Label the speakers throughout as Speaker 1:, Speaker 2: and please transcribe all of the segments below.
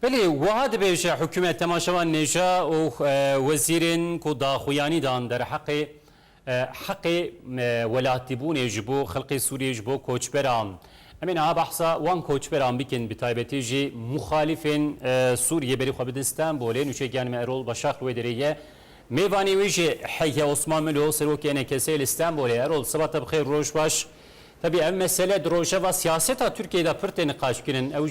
Speaker 1: Belê wiha dibêje hikûmet temaşevan nêja û wezîrên ku daxuyanî dan derheqê heqê welatîbûnê ji bo xelkê Sûriyê ji bo koçberan. Em ê niha behsa wan koçberan bikin bi taybetî jî muxalîfên Sûriyê berî xwe bidin Stenbolê. Nûçegiyan me Erol Başak li wê derê ye. Mêvanê wî jî heye Osman Milo serokê NKS'ê li Stenbolê. Erol seba te bi xêr roj baş. Tevî ev mesele di rojeva siyaseta Tirkiyeyê de pir tê niqaşkirin. Ew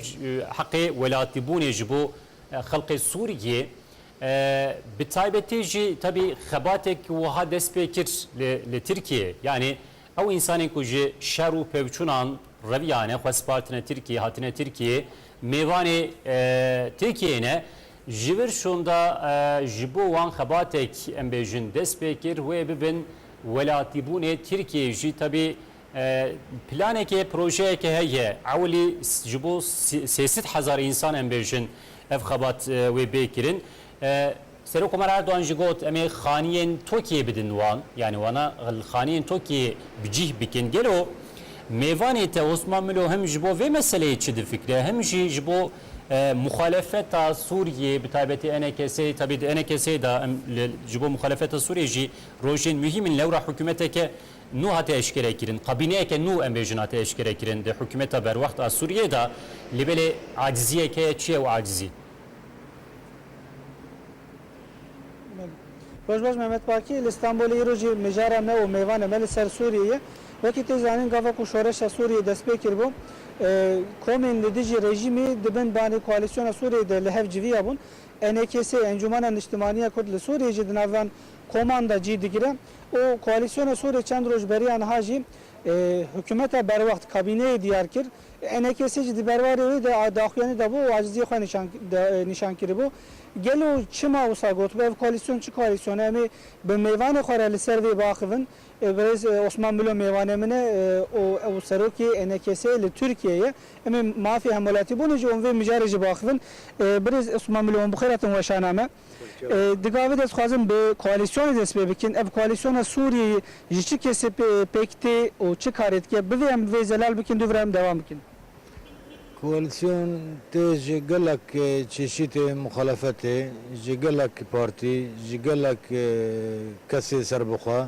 Speaker 1: heqê welatîbûnê ji bo xelkê Sûriyê bi taybetî jî tevî xebatêk wiha dest pê kir li Tirkiyeyê. Yanî ew însanên ku ji şer û pevçûnan reviyane, xwe spartine Tirkiyeyê, hatine Tirkiyeyê, mêvanê Tirkiyeyê ne. Ji vir şûnda ji bo wan xebatêk em bêjin dest pê kir wê bibin Welatîbûnê Tirkiyeyê jî tevî planeke projeyeke heye. Ewilî ji bo sê sed hezar însan em bêjin ev xebat wê bê kirin. Serokkomarê Erdogan jî got em ê xaniyên Tokiyeyê bidin wan. Yanî wana li xaniyên Tokiyeyê bi cîh bikin. Gelo mêvanê te Osman Milo him ji bo vê meseleyê çi difikire him jî ji bo muxalefeta Sûriyeyê bi taybetî enekeseyê tevî di enekeseyê de em ji bo muxalefeta Sûriyeyê jî Rojên muhîm in lewra hikûmeteke nû hate eşkerekirin, kabîneyeke nû em bêjin hate eşkerekirin di hikûmeta berwext a Sûriyeyê de, lê belê aciziyek heye, çi ye ew acizî? Rojbaş, Mehmet Baki, Li Stenbolê îro jî mijara me û mêvana me li ser Sûriyê ye. Wekî tu zanîn gava ku şoreşa Sûriyê dest pê kiribû, komên li dijî rejîmî di bin banê koalîsyona Sûriyê de li hev civiya bûn. ENKS, Encûmena Niştimaniya Kurd li Sûriyê jî di navan Koman de cî digire û koalîsyona Sûrê çend roj beriya niha jî hikûmeta berwext, kabîneyê diyar kir. Enekesê jî di berwarê wê de daxuyanî dabû û aciziyê xwe nîşan kiribû. Gelo çima wisa gotibû ev koalîsyon çi koalîsyone em ê bi mêvanê xwe re li ser vê biaxivin? Birêz Osman Milo mêvanê min e û ew serokê enekesê li Tirkiyeyê ye. Em ê mafê hemwelatîbûnê ji wan vê mijarê jî biaxivin. Birêz Osman Milo, wan bi xêr hatin weşana me. Di gavê de ez dixwazim bi koalîsyonê dest pê bikin. Ev koalîsyona Sûriyeyê ji çi kesê pêk tê û çi karê dike? Bivê em bi vê zelal bikin, dûvira em dewam bikin. Koalîsyon tê ji gelek çeşîtê muxalefetê, ji gelek partî, ji gelek kesê serbixwe.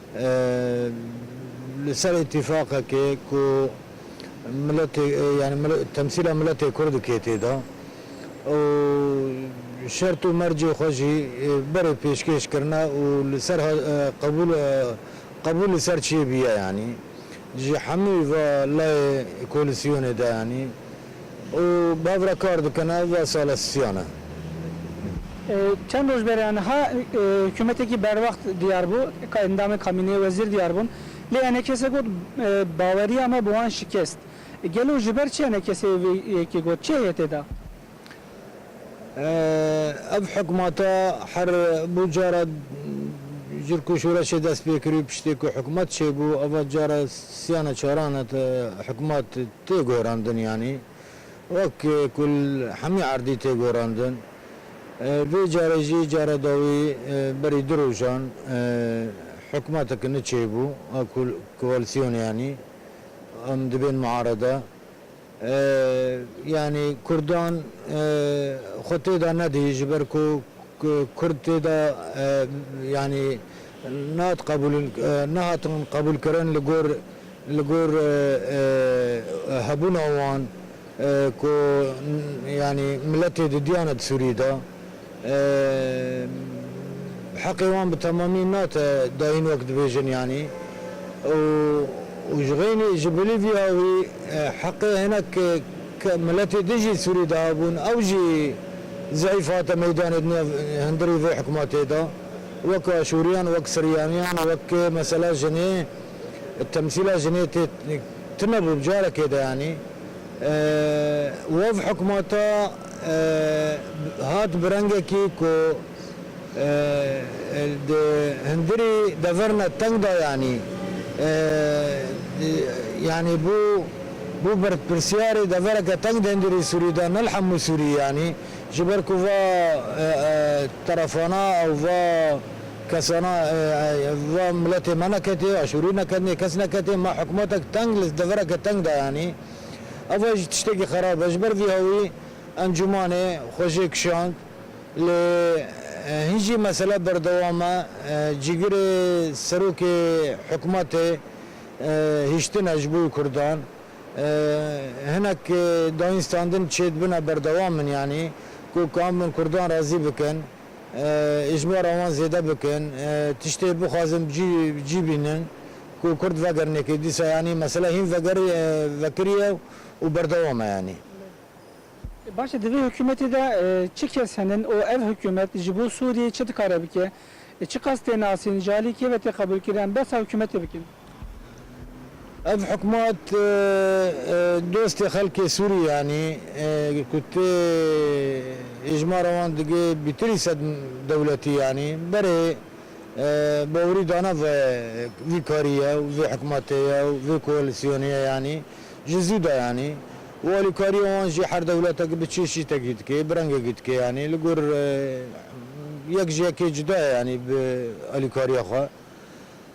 Speaker 1: Li ser îtîfaqekê ku miletê yanî temsîla miletê Kurd dike tê de û şert û mercê xwe jî berê pêşkêş kirine û li ser qebûl qebûl li ser çiyê bûye yanî ji hemû va layê koalîsyonê de yanî Û bav re kar dikin ev ve sala siyan e. Çend roj bêrê aniha hikûmetekî berwext diyar bû, endamên kabîneyê wezîr diyar bûn. Lê ene kese got baweriya me bi wan şikest. Gelo ji ber çi ene kesê vê yekê got? Çi heye tê de? Ev hikûmeta her bû cara cirk û şoreşê dest pê kirî û piştê ku hikûmet çêbû ava cara siyan e çaran e hikûmet tê gorandin yanî wek ku li hemî erdî tê gorandin vê carê jî cara dawî berî du rojan hikûmeteke nû çêbû a koalîsyonê yanî em dibên miarede. Yanî kurdan xwe tê de nedî ji ber ku kurd tê de yanî nehat qebûlin nehatin qebûlkirin li gor li gor hebûna wan ku yanî miletê di diyane di Sûriyê de. Bi heqê wan bi temamî nate dayîn wek dibêjin yanî û û ji xeynî ji Bolîvya wî heqê hinek miletê din jî sûrî de hebûn ew jî zeyîf hate meydanê di nav hundirî vê hikûmetê de wek aşûriyan wek siryaniyan wek mesela jinê temsîla jinê tê tune bû bi carekê de yanî wev hikûmeta hat bi rengekî ku di hundirî deverna teng de yanî yanî bû bû berpirsiyarê devereke teng di hundirî Sûrî de ne li hemû Sûrî yanî ji ber ku va terefana ew va kesana va miletê me neketê aşûrî neketnê kes neketê me hikûmetek teng li devereke teng de yanî Ava jî tiştekî xerab e. Ji ber vî hawî encûmanê xwe jê kişand. Lê hin jî mesele berdewam e. Cîgirê serokê hikûmetê hiştine ji bo wî kurdan. Hinek dayînstandin çêdibine berdewam in yanî ku kabin kurdan razî bikin. Îşbora wan zêde bikin, tiştê bixwazin bi cî bînin ku kurd vegerin yekê. Dîsa yanî mesela hîn vekiriye û berdewam e yanî. Baş e di vê hikûmetê de çi kes henin û ev hikûmet ji bo Sûriyeyê çi dikare bike? Çi qas tê nasîn? Ji alî kê ve tê qebûlkirin em behsa hikûmetê bikin? Ev hikûmet dostê xelkê Sûriyê anî ku tê hêjmara wan digê bîtirî sed dewletî anî berê. Bawerî dana vî karî ye û vê hikûmetê ye û vê koalîsyonê ye anî ji zû de anî û alîkariya wan jî her dewletekî bi çeşî tekî dike, bi rengekî dike anî li gor yek ji yekê cuda ye anî bi alîkariya xwe.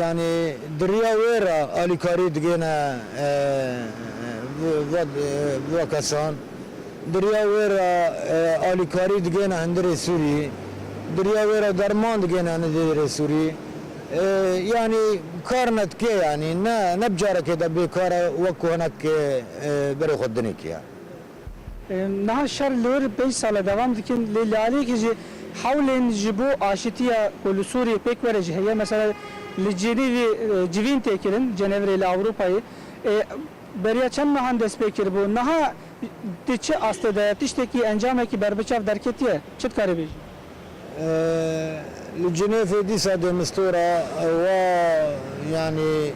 Speaker 1: Yanî di riya wê re alîkarî digihine va kesan, di riya wê re alîkarî digihine hundirê Sûrî, di riya wê re derman digihine hundirê Sûrî. Yanî kar ne dike yanî ne ne bi carekê de bêkar e wek ku hinek berê xwe dinê kiriye. Niha şer li wir pênc sal e devam dikin lê li aliyekê jî hewlên ji bo aşitiya ku li Sûriyê pêk were jî heye. Mesela li Cenîvê civîn tê kirin, Cenevre li Ewropayê beriya çend mehan dest pê kiribû. Niha di çi astê de ye? Tiştekî, encamekî berbiçav derketiye? Çi dikarî bêjî? Li Cinêfê dîsa demistore ewa yanî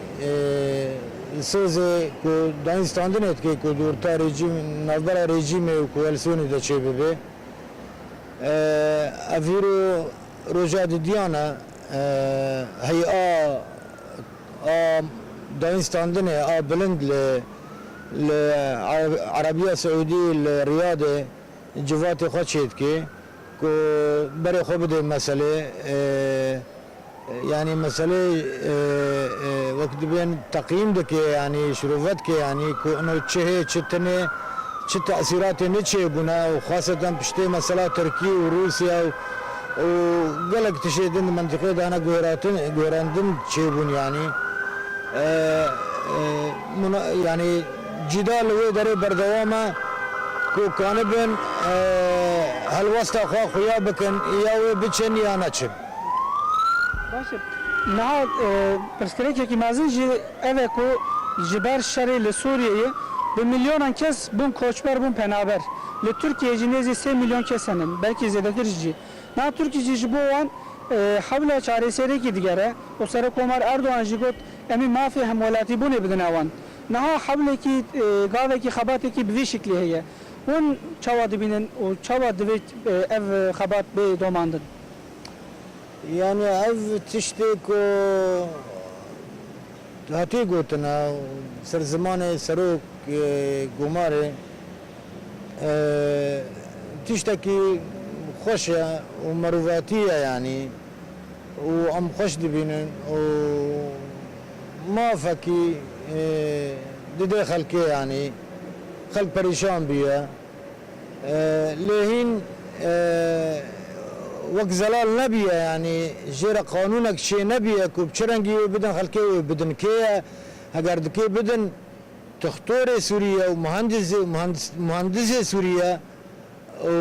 Speaker 1: sêzê ku dayîn standinê dike ku orta rejîm navbera rejîmê û koalîsyonê de çêbibe. Ev hîro roja didiyan e heyî a a dayîn standinê a bilind li li Erebîya Siûdî li Riyadê civatê xwe çêdike. Ku berê xwe bidê meselê yanî meselê wek dibên teqîm dike yanî şirove dike yanî ku ino çi hê çi tine çi tesîratê ne çê bûne û xaseten piştê mesela Tirkî û Rûsya û û gelek tişê din di mentiqê de hene guhêratin guhêrendin çê bûn yanî muna yanî Cîda li wê derê berdewam e ku kanibin helwesta xwe xuya bikin ya wê biçin ya neçin. Baş e. Niha pirsgirêkekî mezin jî ev e ku ji ber şerê li Sûriyeyê bi milyonan kes bûn koçber, bûn penaber. Li Tirkiyeyê jî nêzî sê milyon kes hene, belkî zêdetirîş jî. Niha Tirkî jî ji bo wan hewla çareseriyekî digere û Serokomar Erdogan jî got, Em ê mafê hemwelatîbûnê bidine wan. Niha hewlekî gavekî xebatekî bi vî şiklî heye. Hûn çawa dibînin û çawa divê ev xebat bê domandin? Yanî ev tiştê ku hatiye gotin e û bi ser zimanê serok Gomarê tiştekî xweş e û mirovatî ye yanî û em xweş dibînin û Mafekî dide xelkê yanî xelk perîşan bûye. Lê hîn wek zelal nebûye yanî jê re qanûnek çê nebûye ku bi çi rengî wê bidin xelkê wê bidin kê ye. Heger dikê bidin tixtorê Sûrî ye û muhendisê Sûrî ye. û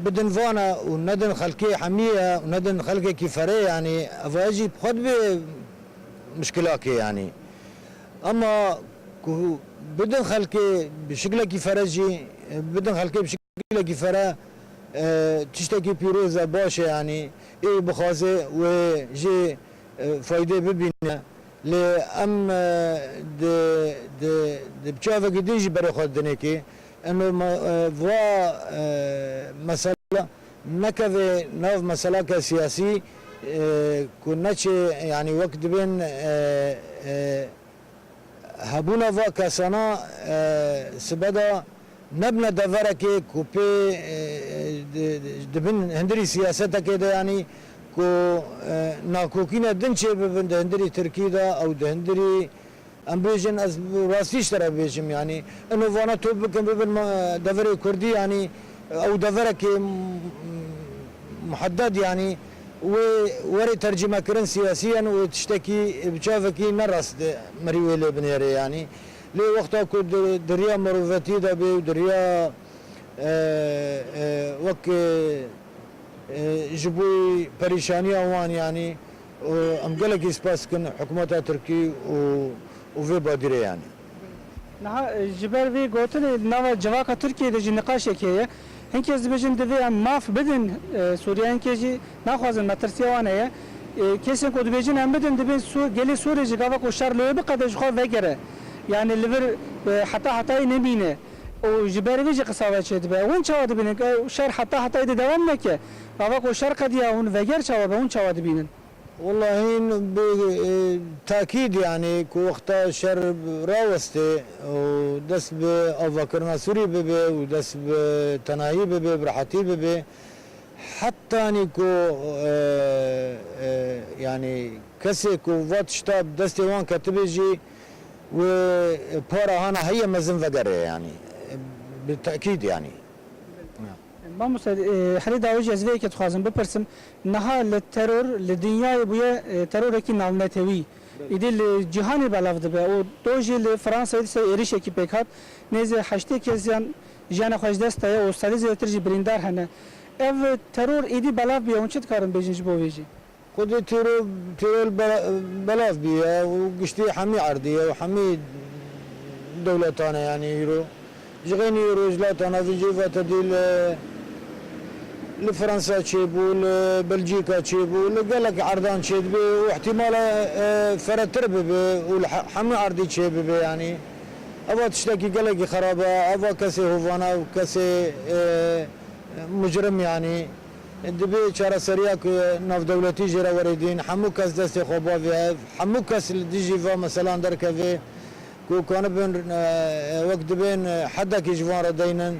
Speaker 1: bidin van e û nedin xelkê hemî ye û nedin xelkekî ferê yanî ev e jî bi xwe dibe muşkilakê yanî ema ku bidin xelkê bi şiklekî fere jî bidin xelkê bi şiklekî fere tiştekî pîroz e baş e yanî ê bixwaze wê jê faydê bibîne. Lê em di di di çavekî din jî berê xwe dinekê eno ma va mesela nekeve nav meselake siyasî ku neçê yanî wek dibên hebûna va kesana sibe de Nebne deverekê ku pê di bin hindirî siyasetekê de yanî ku nakokîne din çêbibin di hindirî tirkî de ew di hindirî em bêjin ez rastî ji te re bêjim yanî ino vana top bikin bibin deverê kurdî yanî ew deverekê muhedded yanî wê werê tercîmekirin siyasî ye û tiştekî bi çavekî ne rast mirî wê lê binêrê yanî Lê wexta ku di riya mirovetiyê de bê û di riya wek ji bo perîşaniya wan yanî û em gelekî spas dikin hikûmeta tirkî û vê badîrê yanî. Niha ji ber vê gotinê di nava civaka Tirkiyeyê de jî niqaşek heye. Hin kes dibêjin divê em maf bidin Sûriyeyên kê jî. Naxwazin metirsiya wan heye. Kesên ku dibêjin em bidin dibên gelê Sûrê jî gava ku şer li wê biqede ji xwe vegere. Yanî li vir heta hetayî nemîne û ji ber vê jî qisa ve çêdibe. Hûn çawa dibînin? Ew şer heta hetayî dê dewam neke. Gava ku şer qediya hûn veger çawa be? Hûn çawa dibînin? Wela hîn bi takîd yanî ku wexta şer rawestê û dest bi avakirina Sûrî bibê û dest bi tenayî bibê, bi rehatî bibê. Hetanî ku yanî kesê ku va tişta bi destê wan ketibê jî wê para hana heye mezin vegere yanî bi tekîd yanî. Mamoste herî dawêjî ez vê yekê dixwazim bipirsim, niha li teror li dinyayê bûye terorekî navnetewî. Îdî li cîhanê belav dibe û do jî li Fransayê disê êrîşekî pêk hat, nêzî heştê kesiyan Jiyana xwe ji dest daye û sedê zêdetir jî birîndar hene. Ev teror êdî belav bûye, hûn çi dikarin bêjin ji bo vê jî? Xwedî teror teror belav bûye û giştî hemî erdê ye û hemî dewletan e yanî îro. Ji xeynî rojhilata navîn jî vate dî li li Fransa çêbû, li Belcîka çêbû, li gelek erdan çêdibê û îhtîmala feretir bibe û li hemî erdî çêbibe yanî. Ev a tiştekî gelekî xerab e. Ev a kesê hovana û kesê mucrim yanî. Dibê çareseriya ku navdewletî jê re were dîn. Hemû kes destê xwe bavê hev. Hemû kes li dijî van meselan derkevê ku kanibin wek dibên hedekî ji van re deynin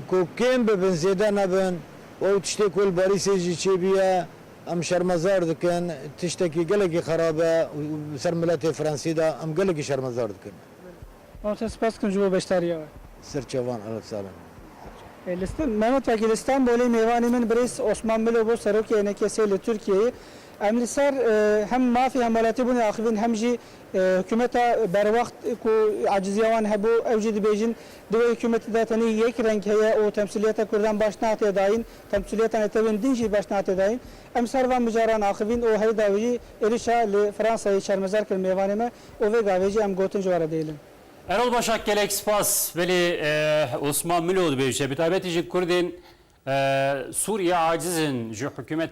Speaker 1: ku kêm bibin zêde nebin. Ew tiştê ku li Barîsê jî çêbûye. Em şermezar dikin, tiştekî gelekî xerab e û li ser miletê Fransî de em gelekî şermezar dikin. Mam te spas dikim ji bo beşdariya we. Serçevan Elif Salem. Mehmet Wekîl li Stenbolê mêvanê min birêz Osman Milo bû Serokê NKS'ê li Tirkiyeyê. Em li ser hem mafê hemwelatîbûnê axivîn hem jî hikûmeta berwext ku ecizîya wan hebû ew jî dibêjin di wê hikûmetê de tenê yek reng heye û temsîliyeta kurdan baş nate dayîn Temsîliyeta netewên din jî baş nate dayîn. Em ser van mijaran axivîn û herî dawî jî êrişa li Fransayê şermezar kir mêvanê me û vê gavê jî em gotin ji we re dihêlin. Erol Başak gelek spas. Belê Osman Milo dibêje, bi taybetî ji Kurdên Sûriyê aciz in ji hikûmeta